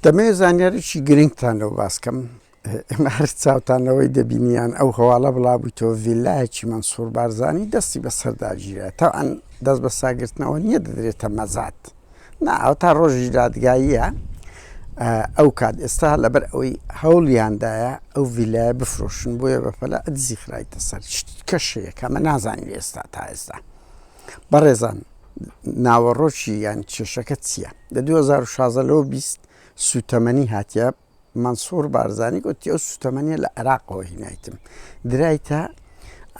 دەمەوێت زانیارێکی گرنگتان لەوە باس بکەم، ئێمە هەر چاوتان لەوەی دەبینی یان ئەو هەواڵە بڵابوویتەوە ڤیلایەکی مەنسوور بارزانی دەستی بەسەر داگیرا، تەوعەن دەست بە ساگرتنەوە نییە دەدرێتە مەزاد، نا ئەوە تا ڕۆژی دادگاییە، ئەو کات ئێستا لەبەر ئەوەی هەوڵیان دایە ئەو ڤیلایە بفرۆشن بۆیە بەپەلە دزی خرایتە سەر، شتی کەش هەیە کە ئەمە نازانین ئێستا تا ئێستا. بەڕێزان ناوەڕۆکی یان کێشەکە چیە؟ لە دوو هەزار و شازدە لەوە بیست سوتەمەنی هاتیە مەنسوڕ بارزانی گوتی ئەو سوتەمەنیە لە عێراقەوە هینایتم درایتە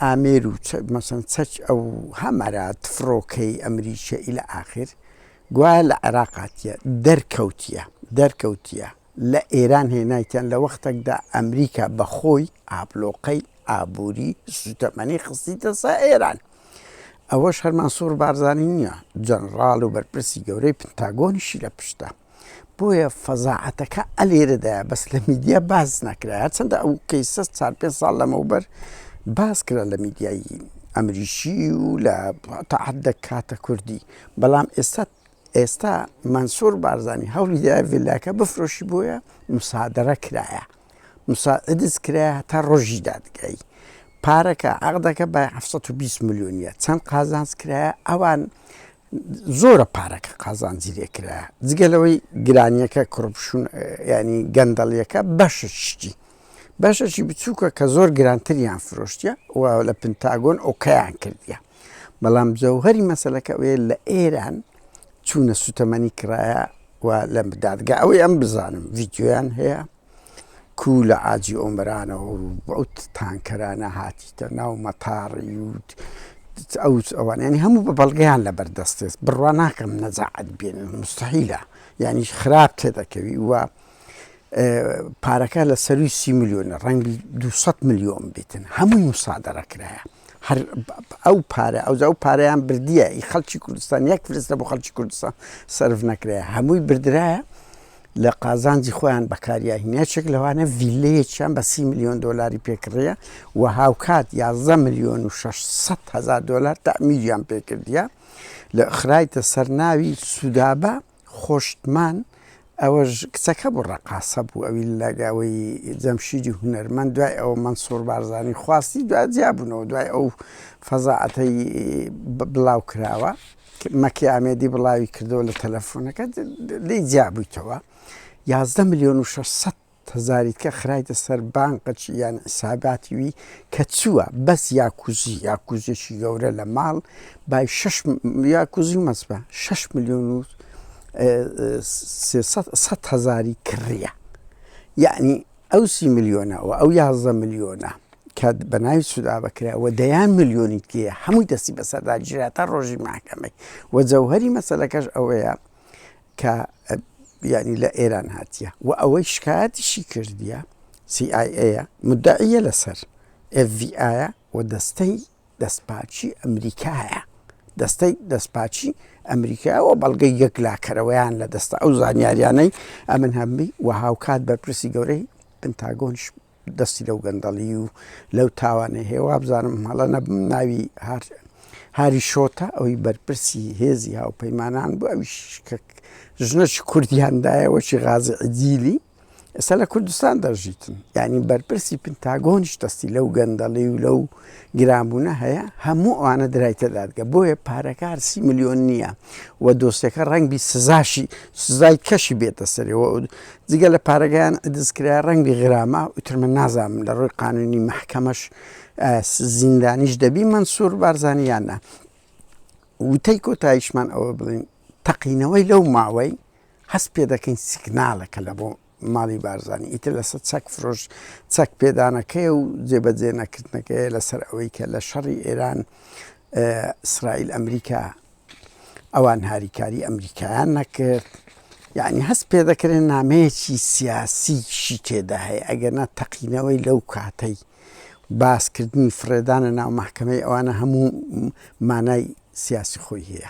ئامێر و مەسن چەک ئەو هەمەرا تفرۆکەی ئەمریکە ئیلە ئاخر گوایە لە عێراقاتە دەرکەوتیە دەرکەوتیە لە ئێران هێنایتیان لە وەختێکدا ئەمریکا بەخۆی ئابلۆقەی ئابووری سوتەمەنی خستیتە سا ئێران ئەوەش هەر مەنسوور بارزانی نییە، جەنراڵ و بەرپرسی گەورەی پنتاگۆنیشی لە پشتە. بۆیە فەزاعەتەکە ئەلێرەدایە بەس لە میدیا باس ناکرایە، هەرچەندە ئەو کەیسە چار پێنج ساڵ لەمەوبەر باس کرا لە میدیای ئەمریکی و لە تەعەددە کاتە کوردی، بەڵام ئێستا ئێستا مەنسوور بارزانی هەوڵی دایە ڤیلاکە بفرۆشی بۆیە موسادەرە کرایە. مساعدس کرایە هەتا ڕۆژی دادگای پارەکە عەقدەکە بە حەفت سەد و بیست ملیۆنیە چەند قازانج کرایە ئەوان زۆرە پارەکە قازانجی لێ کرایە جگە لەوەی گرانیەکە کوڕپشون ینی گەندەڵیەکە بەشە شتی بەشەشی بچووکە کە زۆر گرانتریان فرۆشتە و لە پنتاگۆن ئۆکەیان کردیان بەڵام جەوهەری مەسەلەکە ئەوەیە لە ئێران چوونە سوتەمەنی کرایە و لە دادگا ئەوەی ئەم بزانم ڤیددیویان هەیە کو لە ئاجی ئۆمرانەوە ئەو تانکەرانە هاتیتە ناو مەتاڕی و ئەو ئەوانیانی هەموو بە بەڵگەیان لە بەردەستێت بڕوا ناکەم نەجاعەت بێن مستحیلە یعنی خراپ تێ دەکەوی وە پارەکە لە سەروی سی میلیۆنە ڕەنگی 200 میلیۆن بێتن هەمووی مسادەڕە کرایە هەر ئەو پارە ئەوجا ئەو پارەیان بردیە ئی خەڵکی کوردستان یەک فرس لە بۆ خەڵکی کوردستان سرف نەکرێ هەمووی بردرایە لە قازانجی خۆیان بەکاریاهینەچێک لەوانە ڤیلەیەکیان بە سی میلیۆن دلاری پێکڕە و هاوکات یازدە میلیۆن و 600 هزار دلار تامیلیان پێکردە لە خرایتە سەرناوی سوودابە خۆشتمان ئەوەش کچەکە بوو ڕەقاسە بوو ئەوی لەگەوەی جەمشیدی هونەرمەند دوای ئەوە مەنسوور بارزانی خواستی دوای جیابوونەوە دوای ئەو فەزاعەتەی بڵاو کراوە مەکی ئامێدی بڵاوی کردەوە لە تەلەفۆنەکە لی جیابوویتەوە یازدە ملیۆن و شەشسەد تزاریتکە خرایتە سەر بانقچ یان حساباتی وی کە چوە بەس یاکوزی یاکوزیەکی گەورە لە ماڵ بای شەش یاکوزی مەسبە شەش ملیۆن و سەد هەزاری کڕیە یعنی ئەو سی ملیۆنە و ئەو یازدە ملیۆنە کە بە ناوی سودا بکرا و دەیان ملیۆنی تێ هەمووی دەستی بەسەردا جراتە ڕۆژی ماکەمەی و جەوهری مەسلەکەش ئەوەیە کە یانی لە ئێران هاتیە و ئەوەی شکایەتیشی کردیە سی ئای ئەیە مودەعیە لەسەر ئێف ڤی ئایە و دەستەی دەستپاکی ئەمریکایە دەستەی دەستپاکی ئەمریکا و بەڵگەی یەکلاکەرەوەیان لە دەستە ئەو زانیاریانەی ئەمن هەمبی و هاوکات بەرپرسی گەورەی پنتاگۆنش دەستی لەو گەندەڵی و لەو تاوانە هەیە وابزانم هەڵە نەبم ناوی هار هاری شۆتە ئەوی بەرپرسی هێزی هاوپەیمانان بوو ئەوی شکک ژنەی کوردیاندایەوەشی غازی عجیلی ئێستا لە کوردستان دەژیتن ینی بەرپرسی پنتاگۆنیش دەستی لەو گەندەڵی و لەو گرانبوونە هەیە هەموو ئەوانە درایتە دادگە بۆیە پارەکە هەر سی ملیۆن نییە و دۆستەکە ڕەنگ بی سزاشی سزای کەشی بێتە سەرەوە جگە لە پارەگەیان دەستکرا ڕەنگی غرامە وترمە نازانم لە ڕووی قانونی محکەمەش زیندانیش دەبی منسوور بارزانانیانە وتەی کۆتایشمان ئەوە بڵین تەقینەوەی لەو ماوەی هەست پێ دەکەین سیگنالەکە لە بۆ ماڵی بارزانی ئیتر لەسەر چەک فرۆش چەک پێدانەکەی و جێبەجێ نەکردنەکەی لەسەر ئەوەی کە لە شەڕی ئێران ئیسرائیل ئەمریکا ئەوان هاریکاری ئەمریکایان نەکرد یعنی هەست پێ دەکرێن نامەیەکی سیاسیشی تێدا هەیە ئەگەرنا تەقینەوەی لەو کاتەی باسکردنی فرێدانە ناو محکمەی ئەوانە هەموو مانای سیاسی خۆی هەیە